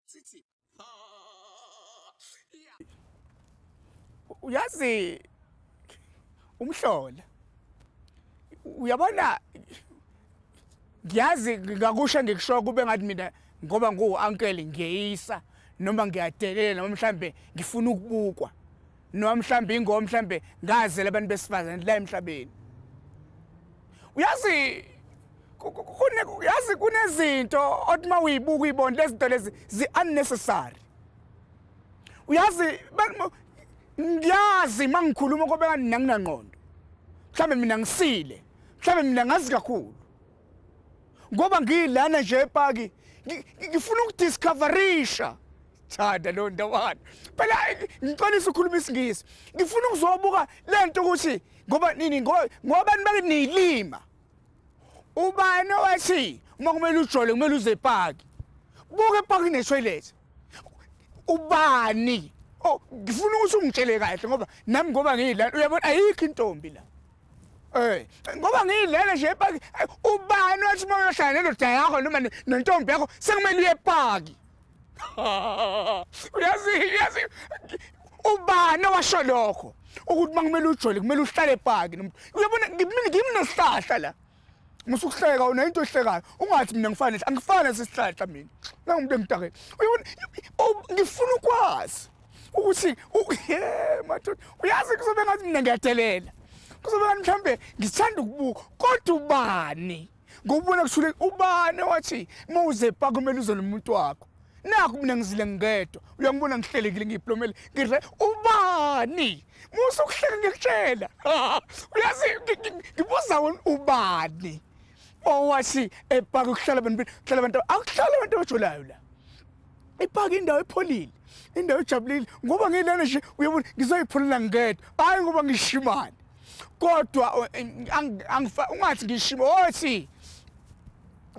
Sisi. Uyazi umhlola. Uyabona ngiyazi ngakusho ngikusho kube ngathi mina ngoba ngu uncle ngiyeyisa noma ngiyadelela noma mhlambe ngifuna ukubukwa noma mhlawumbe ingoma mhlawumbe ngazela abantu besifazane la emhlabeni uyazi kune yazi kunezinto othi uma uyibuka uyibona lezinto lezi zi-unnecessary uyazi ngiyazi uma ngikhuluma kobe kanti nanginangqondo mhlawumbe mina ngisile mhlawumbe mina ngazi kakhulu ngoba ngilana nje epaki ngifuna ukudiscoverisha thanda lo ndawana phela ngiqalisa ukukhuluma isingisi ngifuna ukuzobuka lento ukuthi ngoba nini ngoba nibakithi niyilima ubani owathi uma kumele ujole kumele uze epaki buke epaki netoilet ubani oh ngifuna ukuthi ungitshele kahle ngoba nami ngoba ngiyidlala uyabona ayikho intombi la Eh, ngoba ngiyidlele nje epaki ubani wathi uma uyohlala nendoda yakho noma nentombi yakho sekumele uye epaki uyazi uyazi ubani owasho lokho ukuthi uma kumele ujole kumele uhlale epaki uyabona ngimnesihlahla la ngisukuhleka wena into ehlekayo ungathi mina ngifane nje angifane sesihlahla mina nangumuntu emdakeni uyibona ngifuna ukwazi ukuthi ye madoda uyazi kuzobe ngathi mina ngiyadelela kuzobe ngathi mhlawumbe ngithanda ukubuka kodwa ubani ngokubona kushule ubani wathi uma uzepa kumele uze nomuntu wakho nakho mina ngizile ngedwa uyangibona ngihlelekile ngiyiplomele ngidle ubani Musa ukuhleka ngikutshela. Uyazi ngibuza ubani owathi epaka ukuhlala abantu hlala abantu akuhlala abantu abajulayo la. Ipaka indawo epholile. Indawo ejabulile ngoba ngilana nje uyabona ngizoyipholela ngedwa. Hayi ngoba ngishimane. Kodwa ungathi ngishimo othi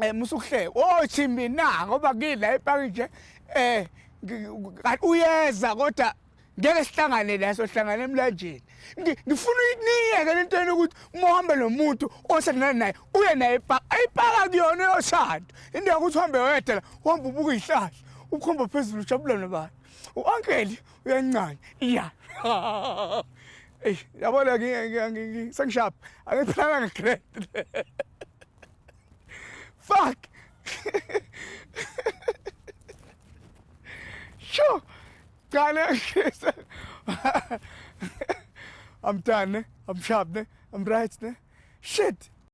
eh musa ukuhleka othi mina ngoba ngila epaka nje eh uyeza kodwa ngeke sihlangane la sohlangana emlanjeni ngifuna uyiniyeke le nto yena ukuthi uma uhambe nomuntu osendana naye uye naye ipaka ayipaka kuyona yoshado into yokuthi uhambe wedwa la uhamba ubuka iy'hlahla ukhomba phezulu ujabula nabantu u-ankeli uyancane iya eyi yabona sengishapha angiphilanga ngegrade fuck sure Qale ngise. I'm done, ne? I'm sharp, ne? I'm right, ne? Shit.